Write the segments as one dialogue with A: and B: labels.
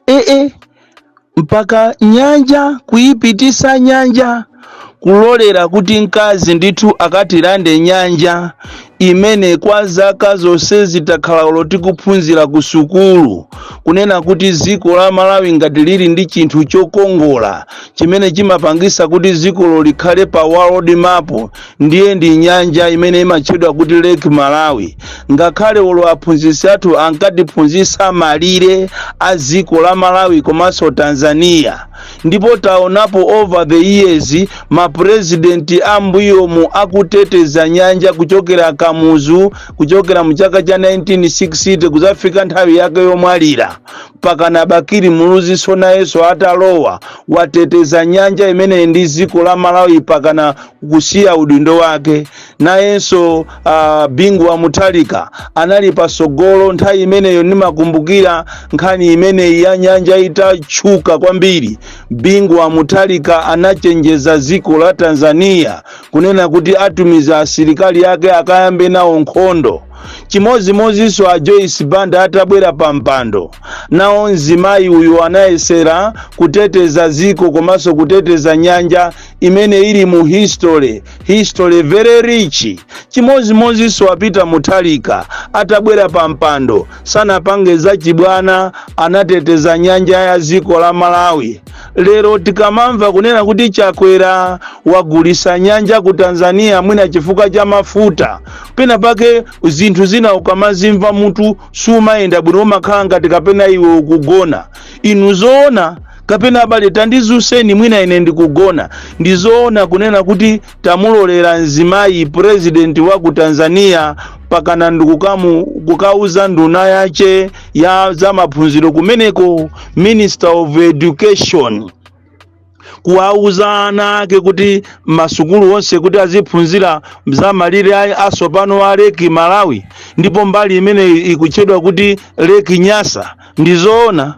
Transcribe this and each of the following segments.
A: eh, mpaka nyanja kuyipitisa nyanja kulolera kuti mkazi ndithu akatilande nyanja imene kwa zaka zonsezi takhala olo tikuphunzira ku sukulu kunena kuti dziko la malawi ngati lili ndi chinthu chokongola chimene chimapangisa kuti dzikolo likhale pa world map ndiye ndi nyanja imene imatchedwa kuti lake malawi ngakhale olo aphunzitsi athu ankatiphunzitsa malire a dziko la malawi komanso tanzania ndipo taonapo over the years mapurezidenti ambuyomu akuteteza nyanja kuchokera kamuzu kuchokera mu chaka cha 1960 kuzafika nthawi yake yomwalira pakana bakili muluzinso nayenso atalowa wateteza nyanja imeneyi ndi dziko la malawi pakana kusiya udindo wake nayenso uh, bingu wa mutharika anali pasogolo nthawi imeneyo ndimakumbukira nkhani imeneyi ya nyanja itatchuka kwambiri bingu wa mutharika anachenjeza dziko la tanzania kunena kuti atumiza asilikali ake akayambe nawo nkhondo chimodzimodzinso a joyce banda atabwera pa mpando nawo mzimayi uyu anayesera kuteteza dziko komanso kuteteza nyanja imene ili mu history history very rich chimodzimodzinso a peter mutharika atabwera pa mpando sanapange zachibwana anateteza nyanja ya dziko la malawi Lero tikamamva kunena kuti Chakwera wagulisa nyanja ku Tanzania mwina chifukwa cha mafuta, pena pake zinthu zina ukamazimva mutu sumayenda bwino, umakhala ngati kapena iwe ukugona. Inu zoona kapena abale tandizuseni mwina ine ndikugona. Ndizoona kunena kuti tamulolera mzimayi purezidenti wa ku tanzania pakana ndi kukauza nduna yace ya za maphunziro kumeneko minister of education kuwauza ana ake kuti masukulu onse kuti aziphunzira za malire asopano a lake malawi ndipo mbali imene ikutchedwa kuti lake nyasa ndizoona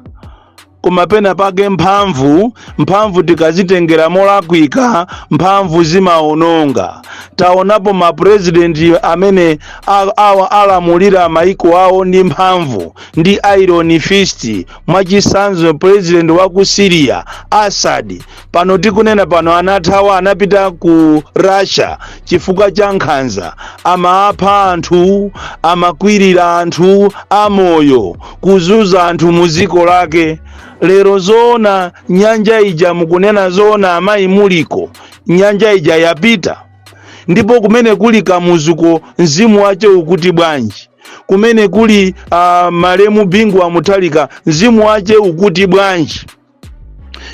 A: koma pena pake mphamvu mphamvu tikazitengera molakwika mphamvu zimaononga taonapo mapurezidenti amene a- awa alamulira maiko awo ndi mphamvu ndi iron fist mwachisanzo purezidenti wa ku syria assad pano tikunena pano anathawa anapita ku russia chifukwa cha nkhanza amapha anthu amakwirira anthu amoyo kuzuza anthu mu dziko lake lero zoona nyanja ija mukunena zoona amayi muliko nyanja ija yapita ndipo kumene kuli kamuzuko mzimu wache ukuti bwanji kumene kuli uh, malemu bingu wa mutharika mzimu wache ukuti bwanji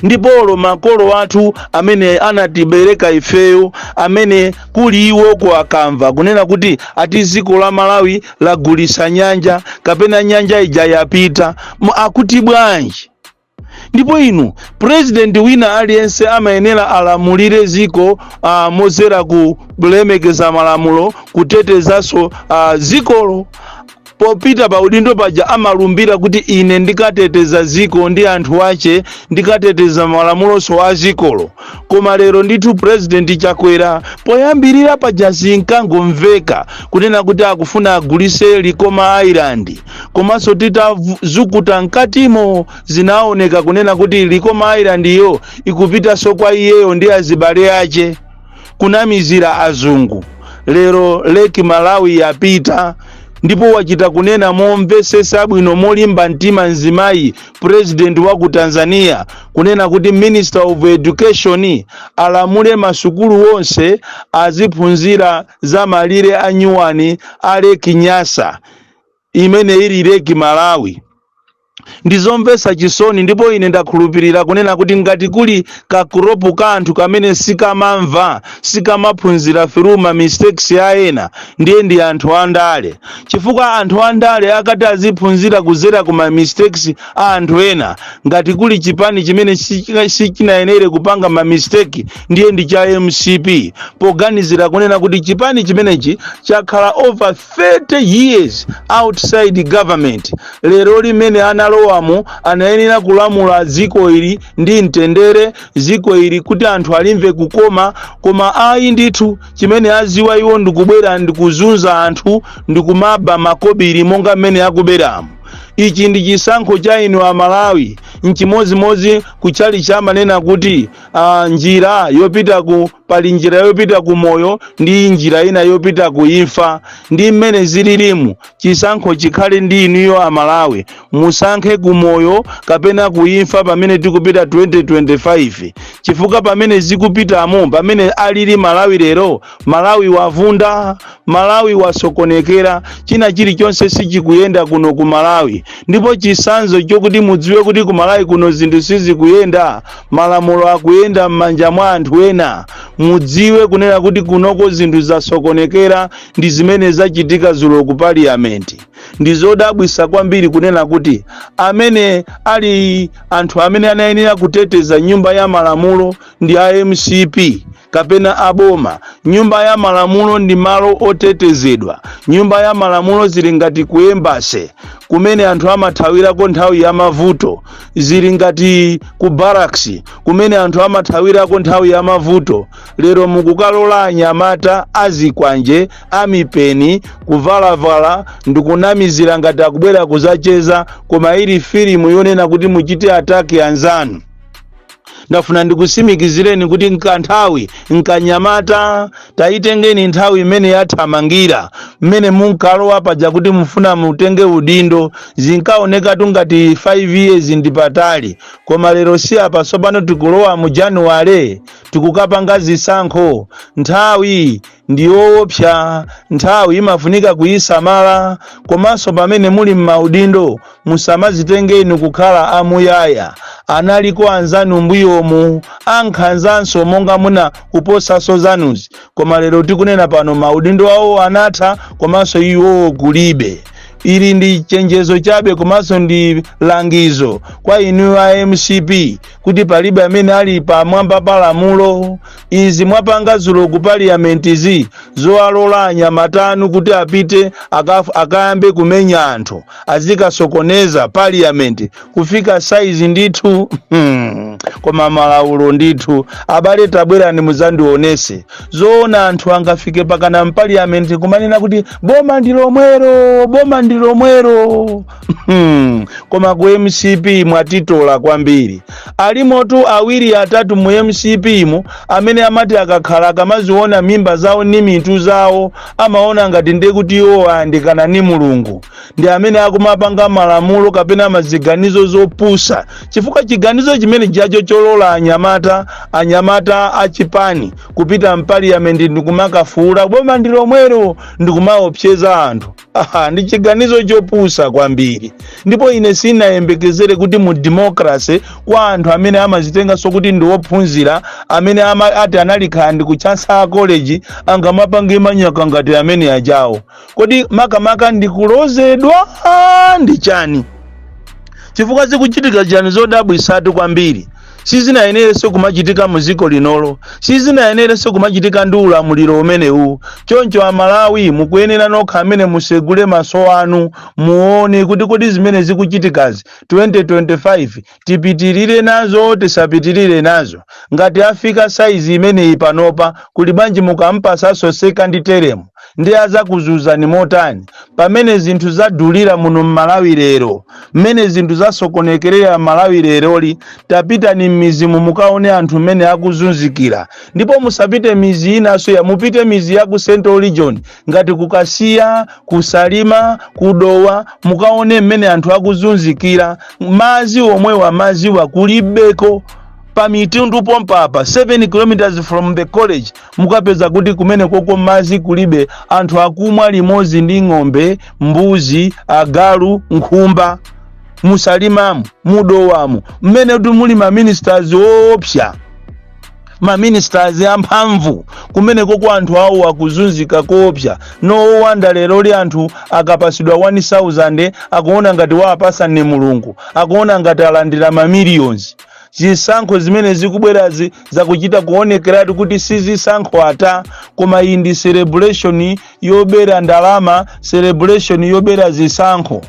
A: ndipo olo makolo athu amene anatibereka ifeyo amene kuli iwoko akamva kunena kuti ati dziko la malawi lagulisa nyanja kapena nyanja ija yapita akuti bwanji ndipo inu president wina aliyense amayenera alamulire dziko uh, mozera kulemekeza malamulo kutetezanso uh, dzikolo popita pa udindo paja amalumbira kuti ine ndikateteza ziko ndi anthu ache ndikateteza malamuloso a zikolo koma lero ndithu purezidenti chakwera poyambirira paja zinkangomveka kunena kuti akufuna agulise likoma island komanso titazukuta mkatimo zinaoneka kunena kuti likoma island iyo ikupitaso kwa iyeyo ndi azibale ache kunamizira azungu lero leki malawi yapita ndipo wachita kunena momvesesa bwino molimba mtima mzimayi president wa ku tanzania kunena kuti minister of education alamule masukulu onse aziphunzira za malire anyuwani a leki nyasa imene ili Lake Malawi. Ndi zomvetsa chisoni ndipo ine ndakhulupirira kunena kuti ngati kuli ka group ka anthu kamene sikamamva, sikamaphunzira through ma mistakes a ena, ndiye ndi anthu andale. Chifukwa anthu andale akati aziphunzira kudzera ku ma mistakes a anthu ena, ngati kuli chipani chimene sichinayenere kupanga ma mistake, ndiye ndi cha mcp, poganizira kunena kuti chipani chimenechi chakhala over 30 years outside government lero lino mmene analowamo anayenera kulamula dziko ili ndi mtendere dziko ili kuti anthu alimve kukoma koma ayi ndithu chimene aziwa iwo ndikubwera ndikuzunza anthu ndikumaba makobiri monga mmene akuberamo ichi ndi chisankho cha inu amalawi nchimodzimodzi kutchalitchi amanena kuti uh, njira yopita ku pali njira yopita ku moyo ndi njira ina yopita ku imfa ndi mmene zililimu chisankho chikhale ndi inuyo amalawi musankhe ku moyo kapena ku imfa pamene tikupita 2025 chifukwa pamene zikupitamo pamene alili malawi lero malawi wavunda malawi wasokonekera china chilichonse sichikuyenda kuno ku malawi ndipo chisanzo chokuti mudziwe kuti ku malawi kuno zinthu sizikuyenda malamulo akuyenda m'manja mwa anthu ena mudziwe kunena kuti kunoko zinthu zasokonekera ndi zimene zachitika zulo ku parliament ndi zodabwitsa kwambiri kunena kuti amene ali anthu amene anayenera kuteteza nyumba ya malamulo ndi a mcp kapena a boma. Nyumba ya Malamulo ndi malo otetezedwa. Nyumba ya Malamulo zili ngati ku embassy kumene anthu amathawirako nthawi ya mavuto, zili ngati ku barracks kumene anthu amathawirako nthawi ya mavuto. Lero mukukalola anyamata a zikwanje a mipeni kuvalavala ndikunamizira ngati akubwera kuzacheza, koma ili filimu yonena kuti muchite attack anzanu. ndafuna ndikutsimikizireni kuti n'kanthawi n'kanyamata tayitengeni nthawi imene yathamangira mmene munkalowa paja kuti mufuna mutenge udindo zinkaonekatu ngati 5 years ndi patali koma lero si apa tsopano tikulowa mu januwale tikukapanga zisankho nthawi ndi yoopsa nthawi imafunika kuyisamala komanso pamene muli m'maudindo musamazitenge inu kukhala amuyaya analiko anzanu mbuyomu ankhanzanso monga muna kuposanso zanuzi koma lero tikunena pano maudindo awo anatha komanso iwowo kulibe ili ndi chenjezo chabe komanso ndi langizo kwa inu a mcp kuti palibe amene ali pamwamba pa lamulo izi mwapanga zulo ku parliament zi zowalola anyamata anu kuti apite akaf- akayambe kumenya anthu azikasokoneza parliament kufika saizi ndithu hmm. koma malaulo ndithu abale tabwerani muzandionetse zoona anthu angafike pakana mpaliyamenti kumanena kuti boma ndi lomwero boma ndi lomwero Hmm, koma ku mcp mwatitola kwambiri alimotu awiri atatu mu mcp mu amene amati akakhala kamaziona mimba zawo ni mitu zawo amaona ngati ndi kuti iwo ayandikana ni mulungu ndi amene akumapanga malamulo kapena maziganizo zopusa chifukwa chiganizo chimene chacho cholola anyamata anyamata achipani kupita mpaliyamenti ndikumakafuula boma ndi lomwero ndikumaopseza anthu Aha, ndi chiganizo chopusa kwambiri ndipo ine sinayembekezere kuti mu democracy kwa anthu amene amazitenganso kuti ndi ophunzira amene ama, ati analikhala ndi ku Chancellor College angamapange manyaka ngati amene ajawo kodi makamaka ndikulozedwa Ah, ndi chani chifukwa zikuchitika chani zodabwitsatu kwambiri sizinayenerenso kumachitika mu dziko linolo sizinayenerenso kumachitika ndi ulamuliro umenewu choncho amalawi mukuyenera nokha amene musegule maso anu muone kuti kodi zimene zikuchitikazi 2025 tipitirire nazo tisapitirire nazo ngati afika saizi imeneyi panopa kuli bwanji mukampasanso second term ndiye adzakuzunzani motani pamene zinthu zadulira muno m'malawi lero mmene zinthu zasokonekerera m'malawi leroli tapitani m'mizimu mukaone anthu mmene akuzunzikira ndipo musapite mizi inanso ya mupite mizi ya ku central region ngati ku Kasiya ku Salima ku Dowa mukaone mmene anthu akuzunzikira mazi omwewa mazi wa kulibeko pa Mitundu pompapa 7 kilometers from the college mukapeza kuti kumenekoko madzi kulibe anthu akumwa limodzi ndi ng'ombe mbuzi agalu nkhumba mu Salimamu mu Dowamu mmene kuti muli maministers oopsa maministers amphamvu kumeneko kwa anthu awo akuzunzika koopsa no wonder leroli anthu akapasidwa 1000 akuona ngati wawapasa ndi mulungu akuona ngati alandira mamillions Zisankho zimene zikubwerazi zakuchita kuonekeratu kuti si zisankho ata, koma iyi ndi celebration yobera ndalama, celebration yobera zisankho.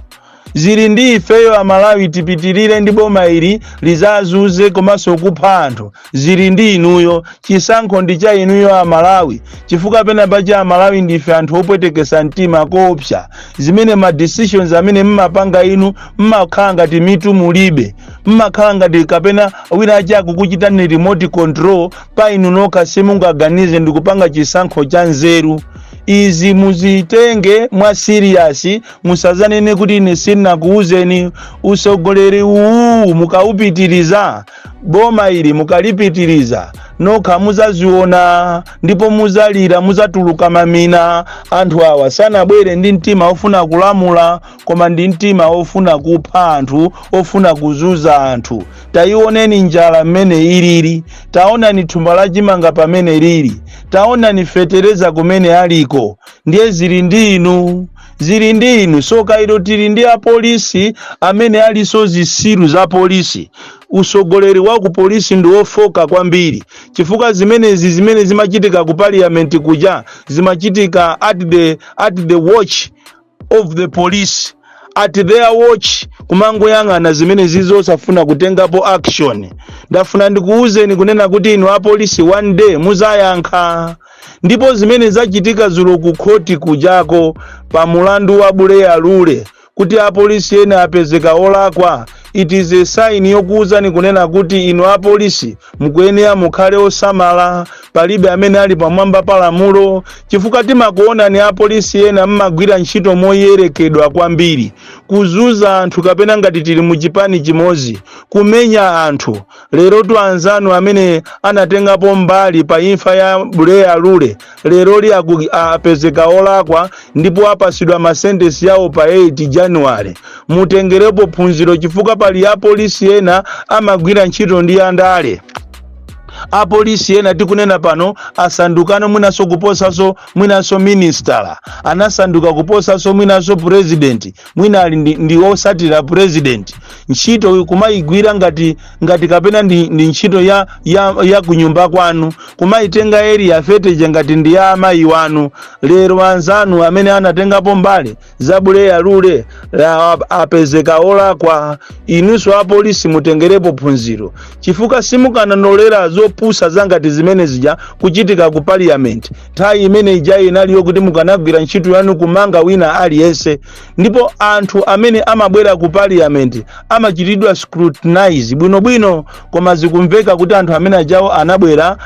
A: Zili ndi ifeyo Amalawi tipitirire ndi boma ili lizazunze komanso kupha anthu. Zili ndi inuyo, chisankho ndi cha inuyo Amalawi, chifukwa pena pache Amalawi ndife anthu opwetekesa mtima koopsa, zimene ma decisions amene mmapanga inu mmakhala ngati mitu mulibe. mmakhala ngati kapena wina wache akukuchitani remote control pa inu nokha simungaganize ndikupanga chisankho cha nzeru izi muzitenge mwa serious musazanene kuti ine sinakuwuzeni usogoleri uwu mukawupitiriza boma ili mukalipitiriza nokha muzaziona ndipo muzalira muzatuluka mamina anthu awa sanabwere ndi mtima ofuna kulamula koma ndi mtima ofuna kupha anthu ofuna kuzunza anthu tayiwoneni njala mmene ilili taonani thumba la chimanga pamene lili taonani fetereza kumene aliko ndiye zili ndi inu zili ndi inu soka ilo tili ndi apolisi amene aliso zisiru za polisi usogoleri wa ku polisi ndi wofoka kwambiri chifukwa zimenezi zimene zimachitika ku parliament kuja zimachitika at the watch of the police at their watch kumangoyang'ana zimene zija osafuna kutengapo action ndafuna ndikuwuzeni kunena kuti inu apolisi one day muzayankha ndipo zimene zachitika zulo ku khoti kujako pa mulandu wa buleya lule kuti apolisi ena apezeka olakwa it is a sign yokuwuzani kunena kuti inu apolisi mukuyenera mukhale osamala palibe amene ali pamwamba pa lamulo chifukwa timakuonani apolisi ena mmagwira ntchito moyerekedwa kwambiri kuzuza anthu kapena ngati tili mu chipani chimodzi kumenya anthu lerotu anzanu amene anatengapo mbali pa imfa ya buleya lule lero li aku- apezeka olakwa ndipo apasidwa masentesi yawo pa 8 januware mutengerepo phunziro chifukwa pali apolisi ena amagwira ntchito ndi andale apolisi ena tikunena pano asandukano mwinanso kuposanso mwinanso ministala anasanduka kuposanso mwinanso purezidenti mwina ali ndi, ndi osatira purezidenti ntchito kumayigwira ngati ngati kapena ndi, ndi ntchito ya, ya, ya kunyumba kwanu kumayitenga eriya fete ja ngati ndi ya amayi wanu lero anzanu amene anatengapo mbali za buleya lule la apezeka olakwa inunso apolisi mutengerepo phunziro chifukwa simukananolera zopusa zangati zimene zija kuchitika ku parliament nthawi imene ija inali yokuti mukanagwira ntchito yanu kumanga wina aliyense ndipo anthu amene amabwera ku parliament amachitidwa scrutinize bwinobwino koma zikumveka kuti anthu amene ajawo anabwera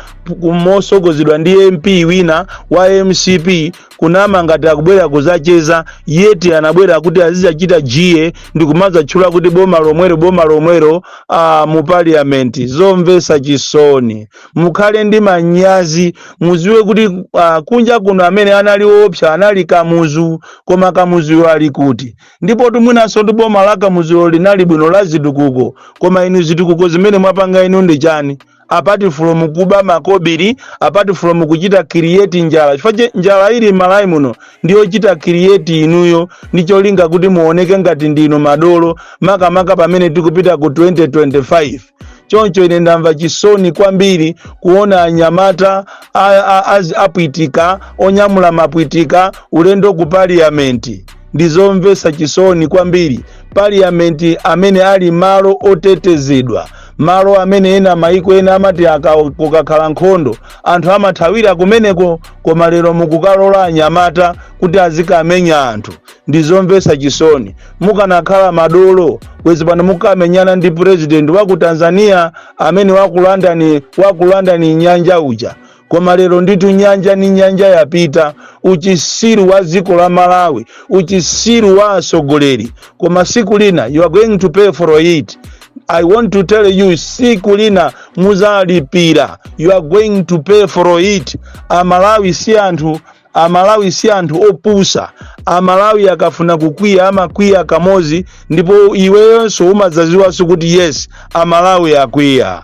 A: mosogozedwa ndi mp wina wa mcp kunama ngati akubwera kuzacheza yeti anabwera kuti azizachita jiya ndi kumazatchula kuti boma lomwero boma lomwero ah, mu parliament zomvesa chisoni mukhale ndi manyazi muziwe kuti ah, kunja kuno amene anali oopsa anali kamuzu koma kamuzuyo ali kuti ndipotu mwinanso ndi boma la kamuzulo linali bwino la zitukuko koma inu zitukuko zimene mwapanga inu ndi chani apart from kuba makobiri apart from kuchita create njala chifukwa njala ili m'malawi muno ndiyochita create inuyo ndi cholinga kuti muoneke ngati ndinu madolo makamaka pamene tikupita ku 2025 choncho ine ndamva chisoni kwambiri kuona anyamata a- a- az- apwitika onyamula mapwitika ulendo ku parliamenti ndizomvetsa chisoni kwambiri parliamenti amene ali malo otetezedwa malo amene ena maiko ena amati aka- kukakhala nkhondo anthu amathawira kumeneko koma lero mukukalola anyamata kuti azikamenya anthu ndi zomvetsa chisoni mukanakhala madolo bwezi pano mukamenyana ndi purezidenti wa ku tanzania amene wakulanda wakulandani nyanja uja koma lero nditu nyanja ni nyanja yapita uchisiru wa dziko la malawi uchisiru wa atsogoleri koma siku lina you are going to pay for it i want to tell you siku lina muzalipira you are going to pay for it amalawi si anthu Amalawi si anthu opusa. Amalawi akafuna kukwiya amakwiya kamozi ndipo iweyonse umadzaziwanso kuti yes Amalawi akwiya.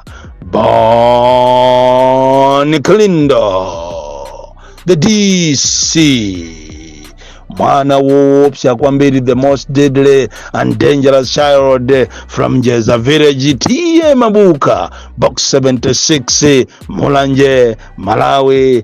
A: Bon Kalindo the DC mwana woopsa kwambiri the most deadly and dangerous child from jeza village TA mabuka box 76 mulanje malawi